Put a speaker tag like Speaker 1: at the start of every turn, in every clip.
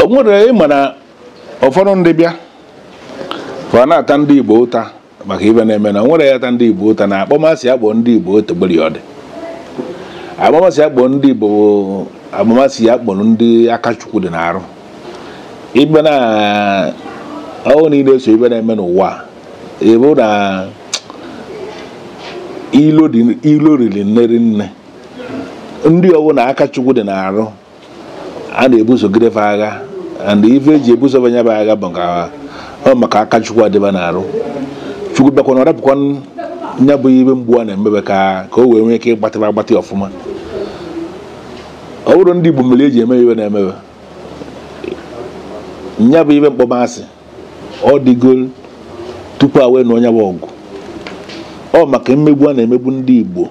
Speaker 1: o nwere ị ma na ụfọdụ ndị bịa fa na-ata ndị igbo ụta maka ife na-eme na nwere ya ata ndị igbo ụta na akpọmasị a kpọ ndị igbo otegberi ọ dị akpọmasị a kpọ ndị igbo akpọmasị a kpọrọ ndị aka chukwu dị n'arụ ibe na ọhụụ niile so ife na-eme n'ụwa ebe na ilo riri nne rinne ndị ọ bụ na aka chukwu dị n'arụ a na-ebusogide fa agha and ife eji ebuso fa nya bụ agha bụ ka ọ maka aka chukwu adị fa n'arụ chukwu bịakwa na ọ rapụkwa nya bụ ife mgbu a na-eme fa ka ka o wee nwee ike ịgbatịba agbatị ọfụma ọ bụrọ ndị Igbo mere eji eme ife a na-eme fa nya bụ ife mkpọmasị ọ dịgo tupu a wee nụọ nya bụ ọgụ ọ maka mmegbu a na-emegbu ndị Igbo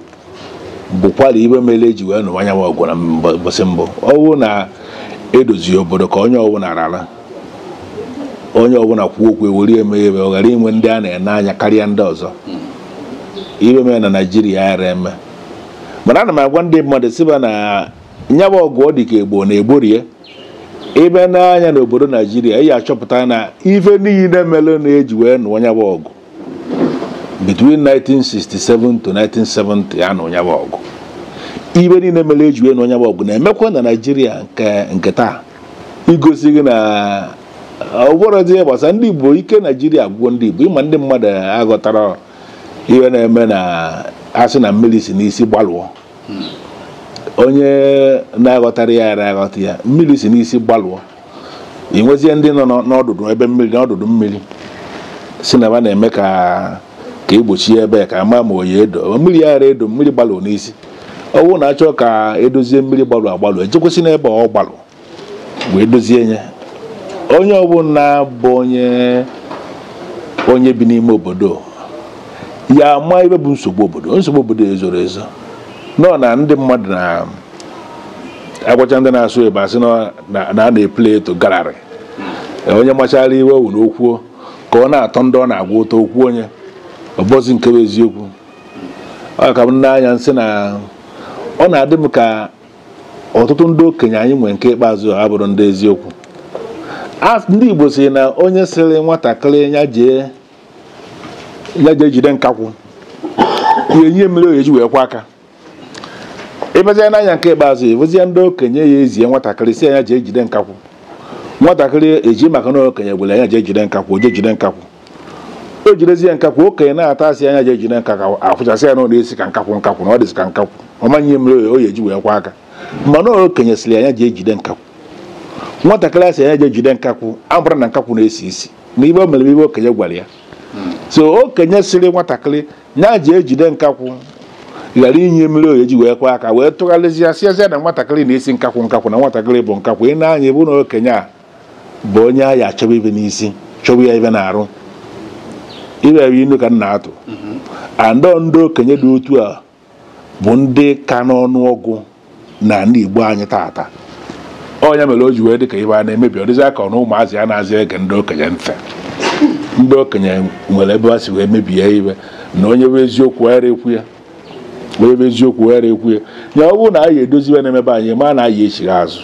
Speaker 1: bụkwara ife mere eji wee nụwa nya bụ ọgụ na mbọsị mbụ ọ bụ na edozie obodo ka onye ọbụla rara onye ọbụla kwuo okwu ewere eme ife ọ ghara inwe ndị a na-ene anya karịa ndị ọzọ ife mere na naijiria ara eme mana ana m agwa ndị mmadụ sị fa na nya bụ ọgụ ọ dị ka egbo na egborie ị bịa nee anya n'obodo naijiria ị achọpụta na ife niile mere na-eji wee nụọ nya bụ ọgụ between 1967 to 1970 ya na nya bụ ọgụ ife niile mere eji wee nụọ nya bụ ọgụ na-emekwa na naijiria nke taa igosi gị na ọ bụrọzi ihe gbasara ndị igbo ike naijiria gwụọ ndị igbo ị ma ndị mmadụ aghọtara ihe na-eme na asị na mmiri si n'isi gbalụọ onye na-aghọtara ya ara aghọta ya mmiri si n'isi gbalụọ ị nwezie ndị nọ n'ọdụdụ ebe mmiri n'ọdụdụ mmiri sị na fa na-eme ka egbochie ebe ka ama ma ọ ya edo mmiri ya ara edo mmiri gbalụ n'isi ọ bụrụ na achọọ ka edozie mmiri gbalụ agbalụ ejekwesị n'ebe ọ gbalụ wee dozie ya onye ọbụla bụ onye onye bi n'ime obodo ya ama ife bụ nsogbu obodo nsogbu obodo ezoro ezo nọ na ndị mmadụ na agwacha ndị na-asụ ife a sị na a na-eplay to gallery onye machara ife were okwuo ka ọ na-atọ ndị ọ na-agwa ụtọ okwu onye ọ bụrọzi nke bụ eziokwu ọ ka m nee anya m sị na ọ na-adị m ka ọtụtụ ndị okenye anyị nwere nke ikpeazụ abụrọ ndị eziokwu ndị Igbo si na onye sịrị nwatakịrị ya jee ya jee jide nkakwụ ya enye mmiri ọ ya eji wee kwọ aka ị bịazie nee anya nke ikpeazụ ị nwezie ndị okenye ya ezie nwatakịrị sị nya jee jide nkakwụ nwatakịrị eji maka na okenye gwara nya jee jide nkakwụ jee jide nkakwụ o jidezie nkakwụ okenye na-ata a sị nya jee jide nkakwụ a fụchasị ya na ọ na-esi ka nkakwụ nkakwụ na ọ dịzi ka nkakwụ ọ ma nye mmiri o ya-eji wee kwọ aka mana okenye sịrị nya jee jide nkakwụ nwatakịrị a sị nya jee jide nkakwụ abụrụ na nkakwụ na-esi isi na ibe o mere ibe okenye gwara ya so okenye sịrị nwatakịrị nya jee jide nkakwụ ghara inye mmiri o ya-eji wee kwọ aka wee tụgharịzie sịazie na nwatakịrị na-esi nkakwụ nkakwụ na nwatakịrị bụ nkakwụ ị na-anụ ya ị vụ na okenye a bụ onye a ya achọba ibe n'isi chọba ya ibe n'arụ ibe ebe ị nụ ka m na-atụ and ọ ndị okenye dị otu a bụ ndị ka n'ọnụ ọgụ n'ala Igbo anyị taata ọ nya mere o ji wee dị ka ibe a na-emebi ọ dịzịa ka ọ na ụmụazị anazị ege ndị okenye ntị ndị okenye nwere ebe ha si wee mebie ibe na onye vụ eziokwu ara ekwu ya onye vụ eziokwu ghara ekwu ya ya ọ bụrụ na anyị edozi ibe na-eme be anyị ma na anyị echigha azụ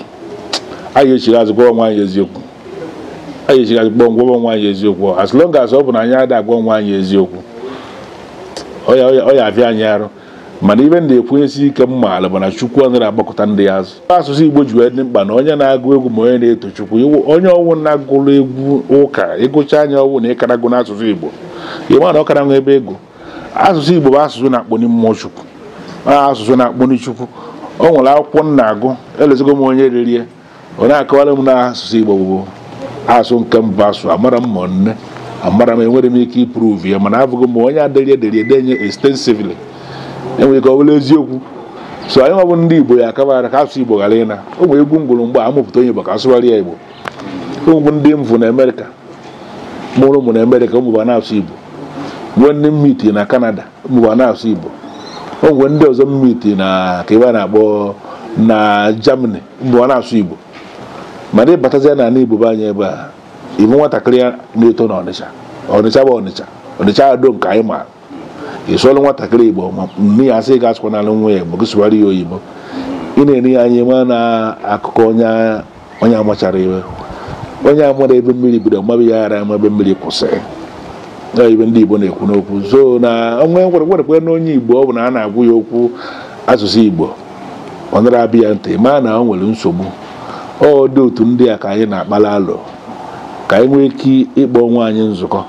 Speaker 1: anyị echigha azụ gwa onwe anyị eziokwu anyị echigha azụ gwa onwe anyị eziokwu as long as ọ bụ na anyị ada agwa onwe anyị eziokwu ọ ya avịa anyị arụ mana ibe m ji ekwenyesi ike m maara bụ na chukwu ọ nara agbakụta ndị ya azụ asụsụ igbo ji wee dị mkpa na onye na-agụ egwu ma onye na-eto chukwu onye ọ wụ na-agụrụ egwu ụka ị gụchaa nya ọ wụ na ị kara gụ n'asụsụ igbo ị ma na ọ kara nwe ibe ị gụ asụsụ Igbo bụ asụsụ na-akpọni mmụọ Chukwu asụsụ na-akpọni Chukwu o nwere akwụkwọ m na-agụ elozọgo m onye dere ye ọ na-akọwara m na asụsụ Igbo bụ asụsụ nke mbụ a sụ amara m ma nne amara m enwere m ike ịprove ya mana abụghị m onye adịrị ederi edenye extensively o nwere ike ọ bụrụ eziokwu so anyị nwa bụ ndị Igbo ya akabara ka asụsụ Igbo ghara ịna o nwere egwu m gụrụ mgbe a mụpụta onye Igbo ka a sụwara ya Igbo o nwee ndị m vụ na Amerịka mụrụ ụmụ na Amerịka ụmụ va na-asụ Igbo nwee ndị m meet na Kanada ụmụ va na-asụ Igbo o nwee ndị ọzọ m meet na kee ibe a na-akpọ na Germany ụmụ va na-asụ Igbo mana ị batazia n'ala Igbo be anyị ebe a ị vụ nwatakịrị ya na-eto n'Ọnịcha Ọnịcha bụ Ọnịcha Ọnịcha Ado nke anyị maara ị sụọrọ nwatakịrị igbo ma nne ya asị gị asụkwanara nwa ya igbo gị sụwara ya oyibo ị na-ele ya anya mana akụkọ onye amachara ibe onye amara ebe mmiri bido maba ya ara ama ebe mmiri kwụsịrị na ibe ndị igbo na-ekwu n'okwu so na onwe nkwerekwerekwe na onye igbo ọ bụla a na-agwa ya okwu asụsụ igbo ọ nara abịa ya ntị ma na o nwere nsogbu ọ dị otu ndị a ka anyị na-akpala alụ ka anyị nwee ike ịkpọ onwe anyị nzukọ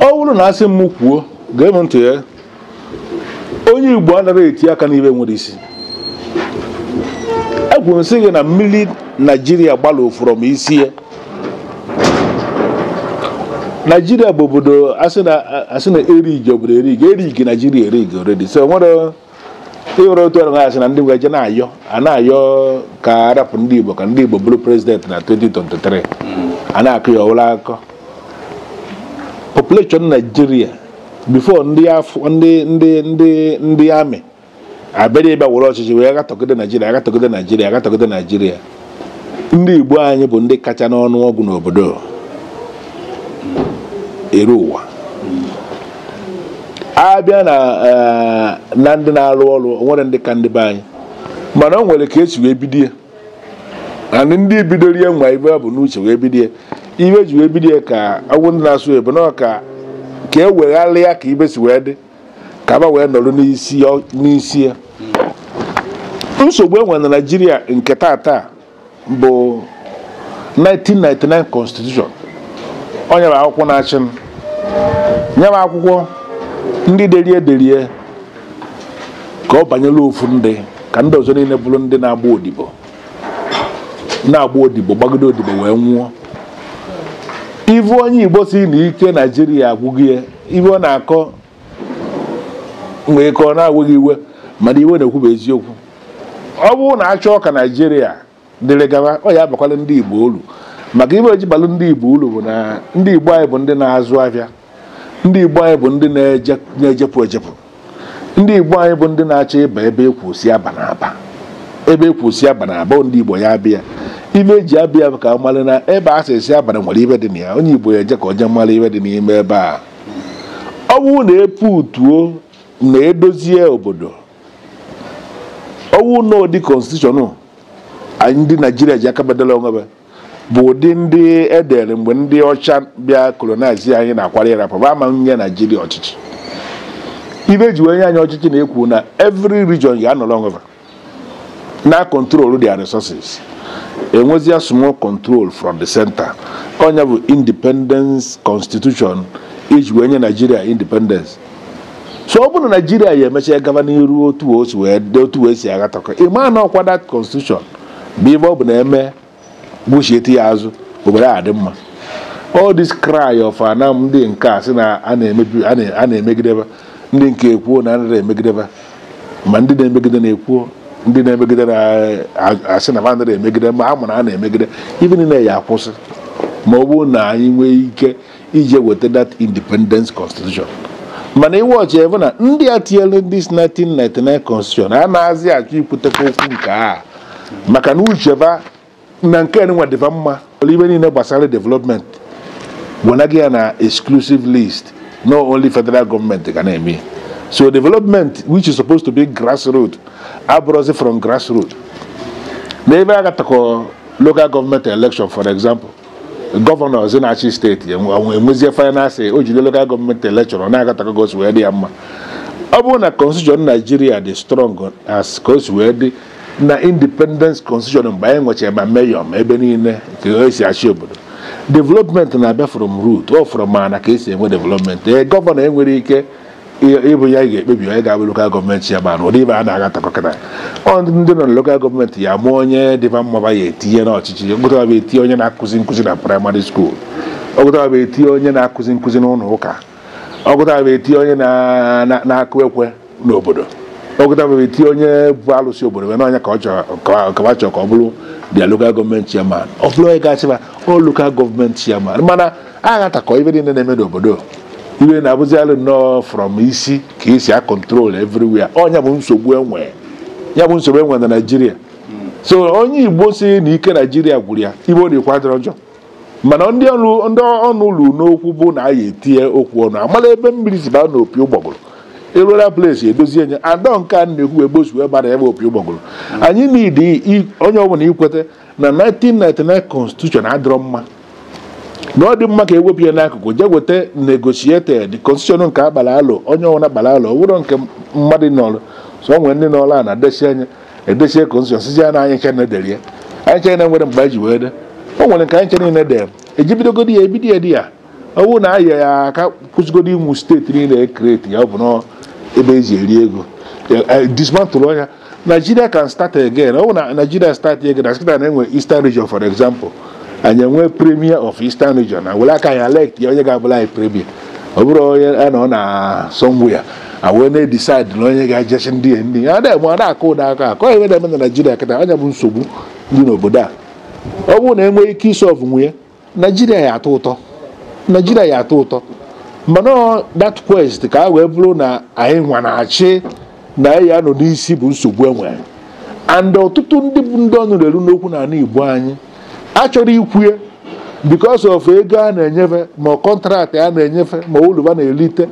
Speaker 2: ọ bụrụ na a
Speaker 1: sị m kwuo gee m ntị ya onye igbo anaghị eti aka n'ibe nwere isi ekwuru m sị gị na mmiri naijiria gbarụ from isi ya naijiria bụ obodo a sị na e rigi obodo e rigi erigi naijiria e rigi already so nwere ịhụrụ otu ọrụ asị na ndị Igbo eje na-ayọ a na-ayọ ka arapụ ndị Igbo ka ndị Igbo bụrụ prezidenti na 2023 a na-akọ ya ọ wụla akụkọ population Naijiria before ndị afọ ndị ndị ndị ndị amị abịara ịbịa were ọchịchị wee gatọgide Naijiria agatọgide Naijiria agatọgide Naijiria ndị Igbo anyị bụ ndị kacha n'ọnụ ọgụ n'obodo eri ụwa abịa na eh, na ndị na-arụ ọrụ o nwerọ ndị ka ndị be anyị mana o nwere ka esi wee bido ya and ndị bidoro ya nwee ibe ba bu n'uche wee bido ya ibe ji wee bido ya ka agwụ ndị na-asụ ebe na ka ka e wegharịa ka ibe si wee dị ka ba wee nọrọ n'isi ya- n'isi ya nsogbu enwe na naijiria nke tata bụ 1999 constitution ọ nya bụ akwụkwọ na-achị anyị nya bụ akwụkwọ ndị derie derie ka ọ banyere ofu ndị ka ndị ọzọ niile bụrụ ndị na-agba odibo na-agba odibo gbagide odibo wee nwụọ ị vụ onye igbo sị na ike naijiria agwụgo ya ibe ọ na-akọ nwee ike ọ na-ewe gị iwe mana ibe ọ na-ekwu bụ eziokwu ọ bụrụ na a chọọ ka naijiria dịrị gaba ọ ya abakwala ndị igbo ulu maka ibe o ji balụ ndị igbo ulu bụ na ndị igbo anyị bụ ndị na-azụ ahịa ndị igbo anyị bụ ndị na-ejepụ ejepụ ndị igbo anyị bụ ndị na-achọ ịba ebe ekwusi abana aba ebe ekwusi abana aba ndị igbo ya abịa ibe eji abịa ka ọ mara na ebe a sị esi abana nwere ibe dị na ya onye igbo ya eje ka ọ jee mara ibe dị n'ime ebe a ọ bụrụ na epu utuo na edozie obodo ọ wụ na ụdị constitution ndị naijiria ji aka ba deela onwe bụ ụdị ndị edere mgbe ndị ọcha bịa colonize anyị na-akwado ịrapụ bụ ama nye naijiria ọchịchị ibe eji wee nye anyị ọchịchị na-ekwu na every region ya anọrọ onwe va na control their resources e nwezie small control from the center ọ nya bụ independence constitution eji wee nye naijiria independence so ọ bụrụ na naijiria ya emechaa gaba n'iru otu o si wee si aghọtakọ ịma na ọkwa that constitution bụ ibe ọ bụ na e mee buchiete ya azụ obodo a dị mma all this cry of ana ndị nke a sị na a na-emegide ba ndị nke ekwuo na anaghị emegide ba ma ndị na-emegide na-ekwuo ndị na-emegide na-asị na anaghị emegide ma a ma na a na-emegide ibe niile ya akwụsị ma ọ bụrụ na anyị nwee ike ije weta that independence constitution mana iwe ọchị ebe na ndị a tinyere this 1999 constitution anazị achọ ikwutekwa okwu nke a maka na uche va na nke nwa dị va mma ive niile gbasara development wenaghị ya na exclusive list na ọ only federal government ga na-eme so development which is supposed to be grassroots abụrọzi from grassroots n'ebe a gatakọ local government election for example gọvanọ zi na-achị steeti enwezie finance o jide local government election na-agatakọ ka o si wee dị ya mma ọ bụrụ na constitution naijiria dị strong as ka o si wee dị na independence constitution mgbe anyị nwechara ma mayor ma ebe niile ka e si achị obodo development na-abịa from root ọ from ana ka e si enwe development ee gọvanọ enwerọ ike ịbụ ya ga-ekpebi onye ga-abụ local government ya mana ụdị ive a na-agatakọ kịta ọ ndị nọ na local government ya-ama onye dị va mma va ya-etinye n'ọchịchị ọ gụta va va etinye onye na-akụzi nkụzi na primary school ọ gụta va va etinye onye na-akụzi nkụzi n'ụlọ ụka ọ gụta va va etinye onye na-akụ ekwe n'obodo ọ gụta va va etinye onye bu alụsị obodo wee na ọ nya ka va chọrọ ka ọ bụrụ their local government chairman ọ bụrụ onye ga-achị va ọ local government chairman mana aghatakọ ive niile na-eme n'obodo o wee na-abụzi alụ na ọ from isi ka e si a control everywhere ọ nya bụ nsogbu enwe ya bụ nsogbu enwe na naijiria so onye igbo sị na ike naijiria gwụrụ ya ive ọ na-ekwu adịrọ njọ mana ndị ọrụ ndị ọnụ lulu n'okwu bụ na a ya-etinye okwu ọnụ a malụ ebe mmiri si baa n'opi ụgbọgụrụ eruola place edozie nya adọ nke a na-ekwu egbosu ebe na ebe opi ụgbọgụrụ anyị need onye ọbụla ikweta na 1999 constitution adịrọ mma na ọ dị mma ka e wepụ ya n'akụkụ jee weta negotiated constitution nke a gbara alo onye ọbụla gbara alo ọ bụrọ nke mmadụ nọrọ somewhere ndị nọrọ a na-adesi anya edesie constitution sịzi ya na anyị ncha na-edere ya anyị ncha na nwere mgbe anyị ji wee de o nwere nke anyị ncha niile dere e ji bidogodi ya e bido ya there ọ bụrụ na anyị ya-akagbusịgodi ụmụ steeti niile e create ya ọ bụ na ebe e ji eri ego dismantle nya Nigeria can start again ọ bụ na Nigeria start again na sị kịta na-enwe Eastern region for example anyị enwe premier of Eastern region anyị were aka anyị elect ya onye ga-abụlụ anyị premier ọ bụrọ onye a nọ na somewhere a wee na-edecide na onye ga-eje chị ndị ya ndị ya ada ma na-akụ ụda aka akụ ọ nya na-eme na Nigeria kịta ọ nya bụ nsogbu dị n'obodo a ọ bụrụ na e nwee ike isolve nwu nya naijiria ya-atọ ụtọ naijiria ya-atọ ụtọ mana ọ that quest ka o wee bụrụ na anyị nwa na-achị na anyị ya-anọ n'isi bụ nsogbu e nwere and ọtụtụ ndị bụ ndị ọnụ na-eru n'okwu n'anị igbo anyị achọrọ ikwue because of ego a na-enye va ma contract a na-enye va ma uru va na-erite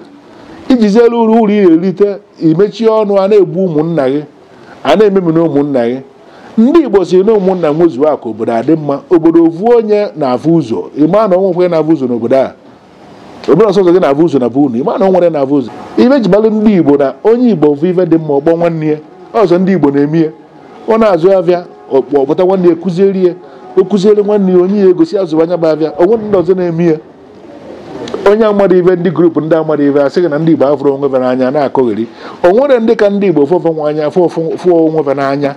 Speaker 1: i jiziri uru uru ị na-erite i mechie ọnụ a na-egbu ụmụnna gị a na-ememina ụmụnna gị ndị igbo sị na ụmụnna nwezuo akụ obodo adị mma obodo ovu onye na-afụ ụzọ ị ma na o nwerọ onye na-afụ ụzọ n'obodo a obodo ọ sọ gị na-afụ ụzọ na be unu ị ma na o nwerọ onye na-afụ ụzọ ive jibalụ ndị igbo na onye igbo fụ ife dị mma ọ kpọọ nwanne ya ọ sọ ndị igbo na-eme ya ọ na-azụ avịa ọ kpọta nwanne ya kụziere ya o kụziere nwanne ya o nye ya ego sị ya zụba nya bụ avịa o nwerọ ndị ọzọ na-eme ya onye amarọ ive ndị group ndị amarọ ive sị na ndị Igbo afụrọ onwe va n'anya na-akọgheri o nwerọ ndị ka ndị Igbo fụọ onwe anya fụọ onwe va n'anya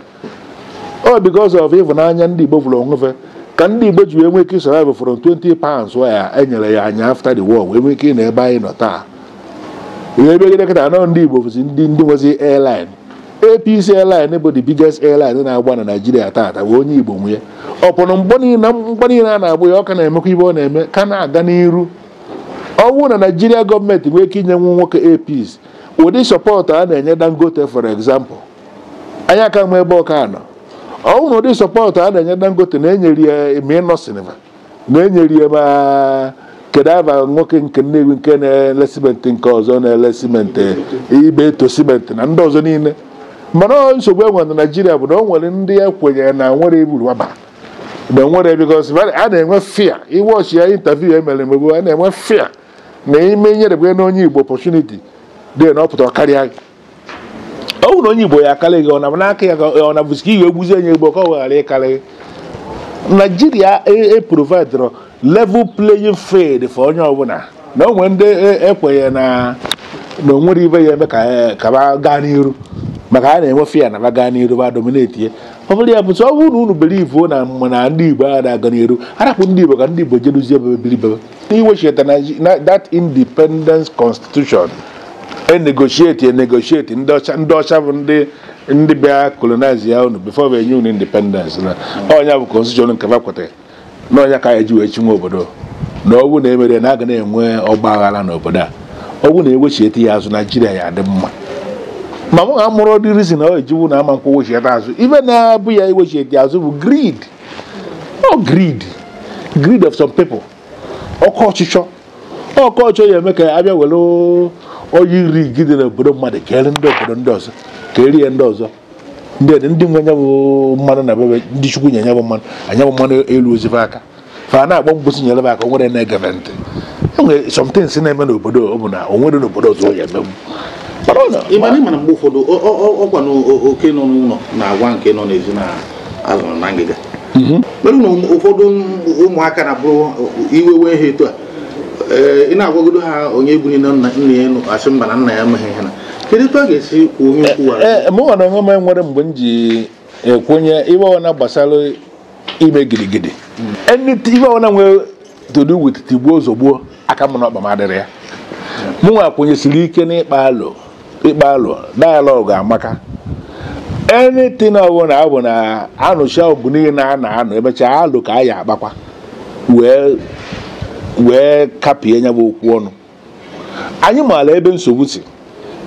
Speaker 1: ọ because of ịhụnanya ndị Igbo fụrụ onwe va ka ndị Igbo ji wee nwee ike survive from 20 pounds e nyere anyị after the war wee nwee ike ịnọ ebe anyị nọ taa ihe ebe gịnị kịtaa na ọ ndị Igbo bụzi ndị ndị nwezi airline Air Peace airline bụ the biggest airline na-agba na Nigeria taata bụ onye Igbo nwe ya upon mgba niile na mgba niile a na-agba ya ọ ka na-emekwa ive ọ na-eme ka na-aga n'iru ọ bụrụ na Nigeria government nwee ike inye nwa nwoke Air Peace ụdị support a na-enye Dangote for example anyị aka-ama ebe ọ ka-anọ ọ bụrụ na ụdị support a na-enye Dangote na e nyere ya ma Innoson va na e nyere ya ma kedu ava nwoke nke Nnewi nke na-ele cement nke ọzọ na-ele cement Ibeto cement na ndị ọzọ niile mana ọ nsogbu e nwere na Nigeria bụ na o nwere ndị e kwenyere na nwere eburu waba na nwere because a na-enwe fear ị watchịa interview e mere emegbu a na-enwe fear na ime nyerebe na onye igbo opportunity dị na ọ pụta karịa gị ọ bụrụ na onye igbo ya-akarị gị ọ na maka ya ọ na bụzi ka i wee gbuzie onye igbo ka ọ ghara ịkarị gị Nigeria eprovidrọ a level playing field for onye ọbụla na o nwere ndị e kwenyere na na o nwerọ ive ya-eme ka e, ka va gaa n'iru maka a na-enwe fear na va gaa n'iru va dominate ya ọ bụrụ ya bụ ọ bụrụ na unu believe na mana ndị igbo a na-aga n'iru a rapụ ndị igbo ka ndị igbo jeruzie be va biri be va i wechita Naiji- na- that independence constitution e negotiate e negotiate ndị ọcha ndị ọcha bụ ndị ndị bịa colonize ya unu before e wee nye unu independence na ọ nya bụ constitution nke fa kwetara na ọ nya ka a ya-eji wee chịwa obodo na ọ bụ na emerọ na a ga na-enwe ọgba aghara n'obodo a ọ bụ na e wechiete ya azụ Nigeria ya-adị mma ma mụ amarọdị reason ọ e ji wụ na a ma nkwe wechiete azụ ive na-abụ ya iwechiete azụ bụ greed ọ greed greed of some people oke ọchịchọ oke ọchịchọ ya-eme ka a bịa were oil rig dị n'obodo mmadụ keere ndị obodo ndị ọzọ keere ndị ọzọ ndị dị ndị nwe nya bụ mmanụ na be va ndị chukwu nye nya bụ mmanụ nya bụ mmanụ eluozi fa aka fa na-akpọ mkpu sị nyere m aka o nwerọ onye na-ege va ntị e nwere somethings na-eme n'obodo ọ bụ na o nwere n'obodo ọzọ ya eme ị ma
Speaker 2: na ị ma na mgbe ụfọdụ ọkwa na oke nọ n'ụlọ na-agwa nke nọ n'ezi na azụrụ na ngịga mhm. mere na ụfọdụ ụmụaka na-abụrụ iwe wee ha etu a ị na-agwagodo ha onye egburu nna ya asị mba na nna ya emeghị ihe na kedu etu a ga-esi kwuo onye okwu e, e, mụ nwa onwe m
Speaker 1: nwere mgbe m ji ekwenye ive ọbụna gbasara ime gidigidi hmm. ive ọbụna nwere to do with tigbuo zọgbuo aka m na ọkpa m adịrọ ya mụnwa kwenyesiri ike n'ịkpa alo ịkpa alo dialogue amaka anything ọbụla ọ bụ na anụcha ọgụ niile a na-anụ emechaa alo ka a ya-akpakwa wee wee kapịa nya bụ okwu ọnụ anyị maara ebe nsogbu si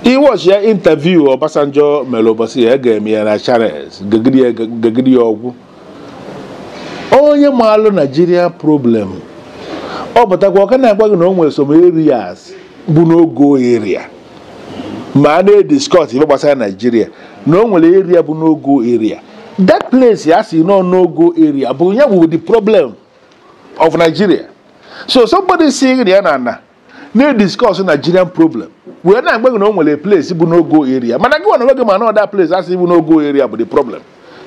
Speaker 1: ị watchịa interview Obasanjo mere ụbọchị ya ga-eme ya na Channels gegide ya ọ gwụ onye maalụ Naijiria problem ọ pụtakwa ọ ka na-agwa gị na o nwere some areas bụ no-go area ma a na-ediskọs ife gbasara naijiria na o nwere area bụ no-go area that place a sị na ọ no-go area bụ nya bụ the problem of Nigeria so somebody sị gị na a na-ediskọs Nigerian problem wee na-agwa gị na o nwere place bụ no-go area mana gị nwa gị ma na that place a sị bụ no-go area bụ the problem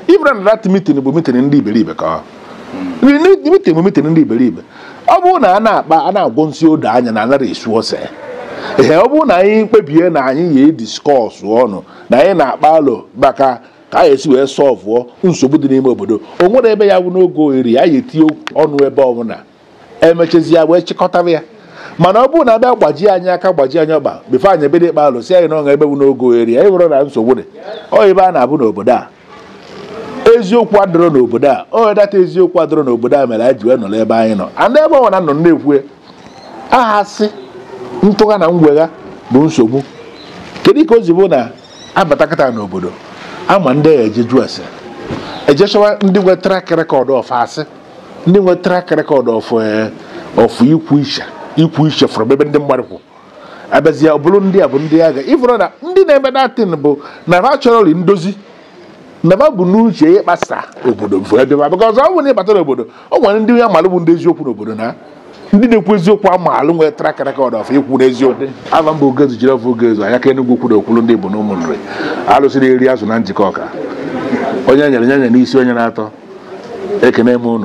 Speaker 1: ị mara na that meeting bụ meeting ndị iberibe that meeting bụ meeting ndị iberibe ọ bụrụ na a na-akpa a na-agwọ nsị odo anya na anarọ esu ose ee ọ bụrụ na anyị kpebie na anyị ya-ediskọs ọnụ na anyị na-akpa alo maka ka a ga-esi wee sọlvụọ nsogbu dị n'ime obodo o nwerọ ebe ya-abụ no-go area anyị ga-etinye ọnụ ebe ọbụla emechazi ya wee chịkọtara ya mana ọ bụrụ na abịa gbajie anyị aka gbajie anyị ọkpa before anyị ebido ịkpa alo sị anyị na o nwere ebe bụ no-go area anyị amara na nsogbu dị ọ ebe a na-abụ n'obodo a eziokwu adịrọ n'obodo a ọ that eziokwu adịrọ n'obodo a mere anyị ji wee nọrọ ebe anyị nọ and ebe ọbụna a nọ na-ekwu eh asị ntụgha na ngwegha bụ nsogbu kedu ka o ji bụ na abatakata n'obodo a ma ndị a eje ajụ ese ejechọwa ndị nwe track record of asị ndị nwe track record of eh, of ikwu iche ikwu iche from ebe ndị mmadụ kwụ abịazie ọ bụrụ ndị a bụ ndị agha ị fụrụ na ndị na-eme that thing bụ na ha achọrọrị ndozi na ha bu n'uche ịkpasa obodo bụ ebe because ọ bụrụ na ịbata n'obodo o nwere ndị a malụ bụ ndị eziokwu n'obodo na ndị na-ekwu eziokwu amaalụ nwere track record of ikwu eziokwu ava m bụ ogezu jiri ọfụ ogezu anya ka Enugwu-Ukwu okwulu ndị Igbo ọnụ ụmụ Nri alụsị na-eri azụ na Njikọka onye nyere nye nye n'isi onye na-atọ ekenee m unu